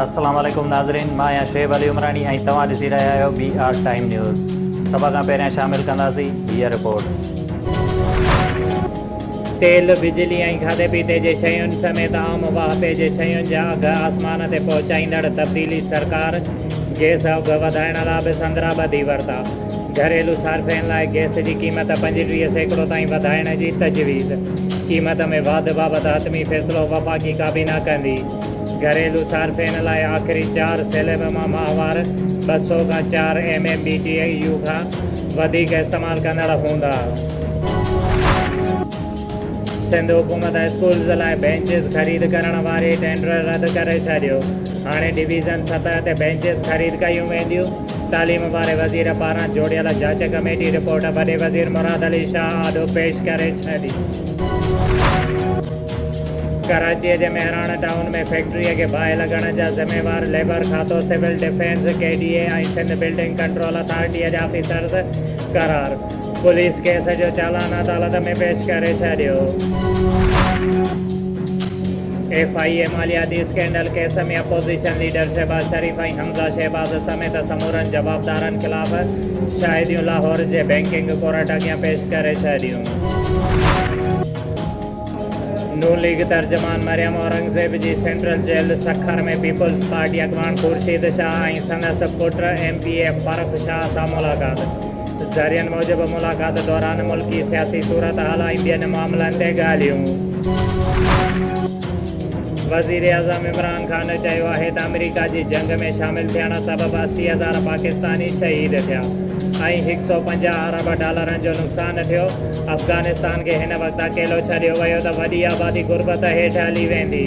السلام عليڪم ناظرين مان آهيان شعيب علي عمراڻي ۽ توهان ڏسي رهيا آهيو بي آر ٽائيم نيوز سڀ کان پهريان شامل ڪنداسين هيء رپورٽ. تيل، بجلي ۽ کاڌي پيتي جي شين سميت عام واهپي جي شين جا اگهه آسمان تي پهچائيندڙ تبديلي سرڪار گيس اگهه وڌائڻ لا به سندرا ٻڌي ورتا. گهريلو صارفين لاء گئس جي قيمت پنجٽيهه سيڪڙو تائين وڌائڻ جي تجويز، قيمت ۾ واڌ بابت حتمي فيصلو وفاقي ڪابينا ڪندي، گهريلو صارفين لاء آخري چار سيليب مان ماهوار ٻه سؤ کان چار M M B T U کان وڌيڪ استعمال ڪندڙ هوندا. سنڌ حڪومت اسڪولز لاء بئنچز خريد ڪرڻ واري ٽينڊر رد ڪري ڇڏيو، هاڻي ڊويزن سطح تي بئنچز خريد ڪيون وينديون. تعليم واري وزير پاران جوڙيل جاچ ڪميٽي رپورٽ وڏي وزير مراد علي شاهه آڏو پيش ڪري ڇڏي. ڪراچيء جي مهراڻ ٽائون ۾ فيڪٽريء کي باهه لڳڻ جا ذميوار ليبر کاتو، civil defence, K D A ۽ Sindh building control اٿارٽيء جا آفيسرز قرار. پوليس ڪيس جو چالان عدالت ۾ پيش ڪري ڇڏيو. ايف آء اي مالياتي scandal case ۾ opposition leader Shahbaz Sharif ۽ Hamza Shahbaz سميت سمورن جوابدارن خلاف شاهديون لاهور جي بئنڪنگ ڪورٽ اڳيان پيش ڪري ڇڏيون. نون ليگ ترجمان مريم اورنگزيب جي central jail Sukkur ۾ peoples party اڳواڻ خورشيد شاهه ۽ سندس پٽ M P A Farrukh Shah سان ملاقات. ذريعن موجب ملاقات دوران ملڪي سياسي صورتحال ۽ ٻين معاملن تي ڳالهيون. وزيراعظم عمران خان چيو آهي ته آمريڪا جي جنگ ۾ شامل ٿيڻ سبب اسي هزار پاڪستاني شهيد ٿيا ۽ هڪ سؤ پنجاهه ارب ڊالرن جو نقصان ٿيو، افغانستان کي هن وقت اڪيلو ڇڏيو ويو ته وڏي آبادي غربت هيٺ هلي ويندي.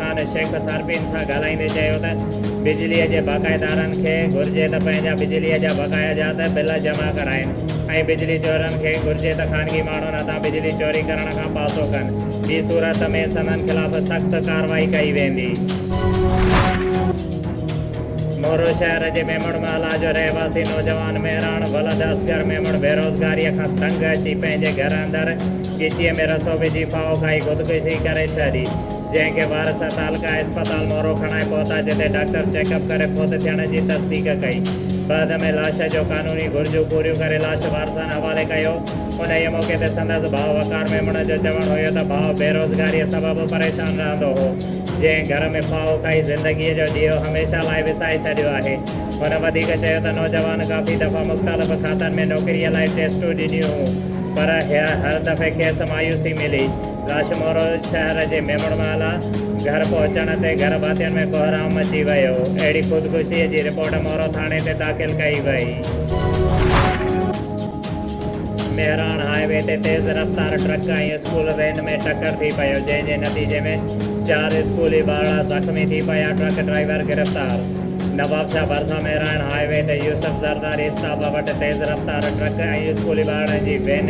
سرڪار شيخ صارفين سان ڳالهائيندي چيو ته بجلي جي باقاعدارن کي گهرجي ته پنهنجا بجلي جا بقايا جا ته بل جمع ڪرائين ۽ بجلي چورن کي گهرجي ته خانگي ماڻهن هٿان بجلي چوري ڪرڻ کان پاسو ڪن ٻي صورت ۾ سندن خلاف سخت ڪارروائي ڪئي ويندي. مورو شهر جي ميمڻ محلا جو رهواسي نوجوان مهراڻ ولد اصغر ميمڻ بيروزگاريء کان تنگ اچي پنهنجي گهر اندر ڳچيء ۾ رسو وجهي ڦاهو کائي خودڪشي ڪري ڇڏي. جنهن کي وارث ۽ تعلقه اسپتال مورو کڻائي پهتا جتي ڊاڪٽر چيڪ اپ ڪري فوت ٿيڻ جي تصديق ڪئي. بعد ۾ لاش جو قانوني گهرجون پوريون ڪري لاش وارثن حوالي ڪيو. انهيء موقعي تي سندس ڀاء وقار ميمڻ جو چوڻ هيو ته ڀاء بيروزگاريء سبب پريشان رهندو هو، جنهن گهر ۾ ڦاهو کائي زندگيء جو ڏيئو هميشه لاء وسائي ڇڏيو آهي. هن وڌيڪ چيو ته نوجوان ڪافي دفعا مختلف کاتن ۾ نوڪريء لاء ٽيسٽون ڏنيون هيون پر هر دفعي کيس مايوسي ملي. گاشمور شهر جي ميمڻ مالا گهر پهچڻ تي گهر ڀاتين ۾ ڪهرام مچي ويو، اهڙي خودڪشيء جي رپورٽ مورو ٿاڻي تي داخل ڪئي وئي. مهراڻ هاء وي تي تيز رفتار ٽرڪ ۽ اسڪول وين ۾ ٽڪر ٿي پيو، جنهن جي نتيجي ۾ چار اسڪولي ٻارڙا زخمي ٿي پيا، ٽرڪ ڊرائيور گرفتار. نوابشاهه ڀرسان مهراڻ هاء وي تي يوسف زرداري اسٽاپا وٽ تيز رفتار ٽرڪ ۽ اسڪولي ٻارڙن جي وين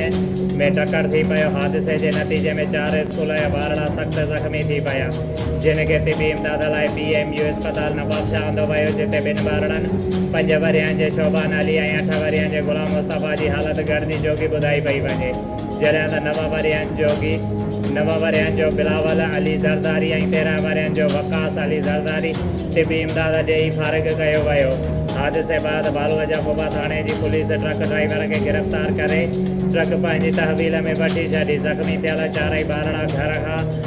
۾ ٽڪر ٿي پيو، حادثي جي نتيجي ۾ چار اسڪول جا ٻارڙا سخت زخمي ٿي پيا، جن کي طبي امداد لاء پي ايم يو اسپتال نوابشاهه آندو ويو، جتي ٻن ٻارڙن پنج ورهين جي شوبان علي ۽ اٺ ورهين جي غلام مصطفيٰ جي حالت گهڻي جوڳي ٻڌائي پئي وڃي. جڏهن ته نوان ورهين جو گيت، نوان ورهين جو بلاول علي زرداري ۽ تيرهن ورهين جو وقاص علي زرداري طبي امداد ڏيئي فارغ ڪيو ويو. حادثي بعد بالوجا ڪوبا ٿاڻي جي پوليس ٽرڪ ڊرائيور کي گرفتار ڪري ٽرڪ پنهنجي تحويل ۾ وٺي ڇڏي، زخمي ٿيل چارئي ٻارڙا گهر کان